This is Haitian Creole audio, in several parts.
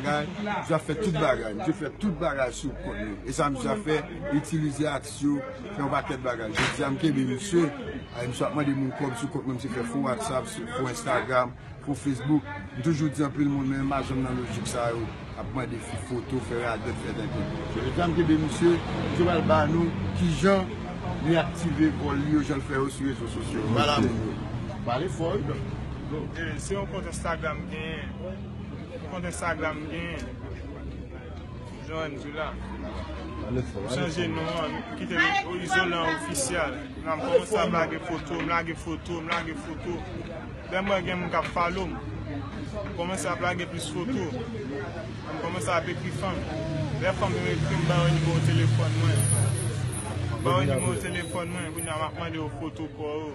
Msye ap fè tout bagay, msye fè tout bagay sou kont li. E sa msye ap fè, itilize aksyon, fè yon pakèt bagay. Jodi a m kenbe msye, e msye ap mande moun kòb sou kont mwen, msye fè fo Whatsapp, fo Instagram, fo Facebook. M toujou di anpil moun men yo pa janm nan lojik sa yo, ap mande fi foto, fè radòt, fè tenten. Jodi a m kenbe msye, msye pral ba nou ki jan li aktive vòl li yo jan l fè yo sou rezo sosyo. Pale fò wi dòk. Se yon kont Instagram m genyen. Kont Instagram m genyen. Johanne Dula. M chanje non an. M kite Izolan Ofisyal. La m kòmanse ap lage foto. M lage foto. M lage foto. Lè m wè gen moun k ap follow m. M kòmanse ap lage plis foto. M kòmanse ap ekri fanm. Lè fanm yo ekri m, m ba yo nimewo telefòn mwen. M ba yo nimewo telefòn mwen. Kounye a m ap mande yo foto kò yo.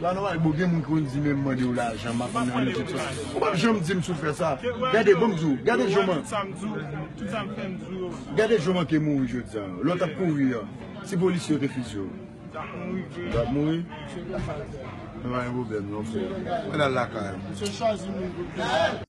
La noire boo gen moun ki konn di menm mandew lajan map mande ou tout sa ou pap janm dim si ou fè sa gade banm di ou gade jan gade jan manke mouri jodi an lè ou tap kouri an si polisye yo te fizye ou tap mouri nou pa gen pwoblèm non frè mwen al lakay ou.